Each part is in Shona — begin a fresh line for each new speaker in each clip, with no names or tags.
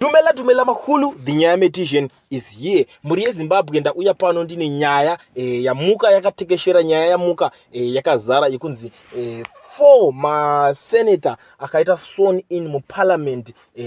Dumela Dumela Makhulu, the Nyayametician is here. Mhuri yeZimbabwe ndauya pano ndine nyaya e, yamuka yakatekeshera nyaya yamuka e, yakazara yekunzi e, four maseneta akaita sworn in muparliament e,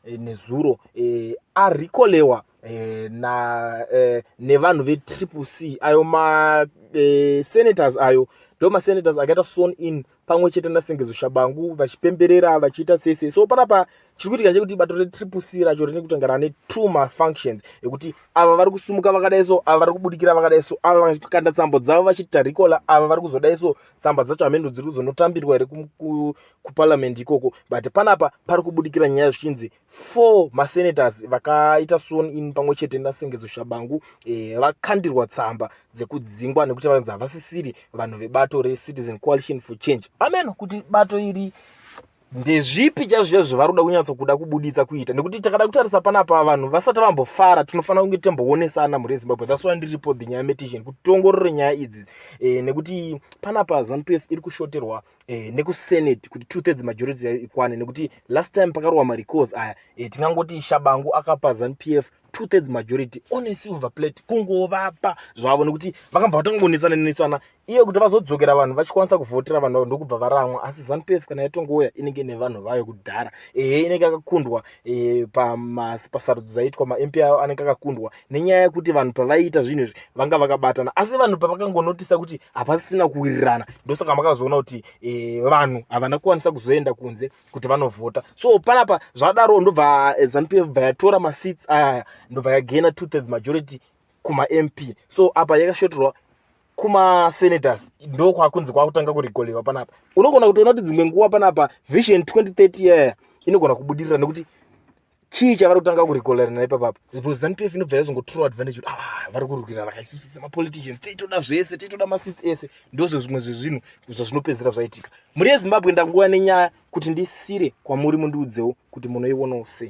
e, nezuro e, arikolewa eh, na eh, nevanhu vetriple c ayo masenators eh, ayo ndo masenators akaita son in pamwe chete nasengezo shabangu vachipemberera vachiita sese so panapa chiri kuitika chekuti bato retriple c racho rine kutanga rane two mafunctions ekuti ava vari kusumuka vakadai so ava vari kubudikira vakadai so ava vakanda tsambo dzavo vachiti tarikola ava vari kuzodai so tsamba dzacho hamendo dziri kuzonotambirwa here kuparliament ikoko but panapa pari kubudikira nyaya zvichinzi four masenators vakaita sworn in pamwe chete nasengedzo shabangu eh, vakandirwa tsamba dzekudzingwa nekuti vanonzi havasisiri vanhu vebato recitizen coalition for change ameno kuti bato iri ndezvipi chazviya zvavari kuda kunyatso kuda kubuditsa kuita nekuti takada kutarisa panapa vanhu vasati vambofara tinofanira kunge timboonesana mhuri yezimbabwe thats why ndiri report the nyaya medition kuti tiongorore nyaya idzi eh, nekuti panapa zanupf iri kushoterwa eh, nekusenate kuti two thirds majority ikwane nekuti last time pakarowa marecords aya eh, tingangoti shabangu akapa zanp f two thirds majority on a silver plate kungovapa zvavo nekuti vakabva vatongonetsana netsana iye kuti vazodzokera vanhu vachikwanisa kuvhotera vanhu vavo ndokubva varamwa asi zanp f kana yatongouya inenge nevanhu vayo kudhara ehe inenge akakundwa eh, pasarudzo dzaitwa mamp ayo anenge akakundwa nenyaya yekuti vanhu pavaiita zvinhu izvi vanga vakabatana asi vanhu pavakangonotisa kuti hapasisina kuwirirana ndosaka makazoona kuti e, vanhu havana kukwanisa kuzoenda kunze kuti vanovhota so panapa zvadaro ndobva eh, zanu pf bva yatora maseats ayaya ndobva yagena two thirds majority kumamp so apa yakashoterwa kumasenators ndo kwakunzi kwakutanga kurigolewa panapa unogona kutoona kuti dzimwe nguva panapa vision 2030 yaya inogona kubudirira nekuti chii chavari kutanga kurigolerana ipapapa because zanu pf inobva yazongo true advantage kuti ah vari kurwirana ka isusu semapoliticians tiitoda zvese tiitoda masits ese ndozvo zvimwe zvezvinhu zvazvinopedzera zvaitika mhuri yezimbabwe ndanguva nenyaya kuti ndisire kwamuri mundiudzewo kuti munoionawo sei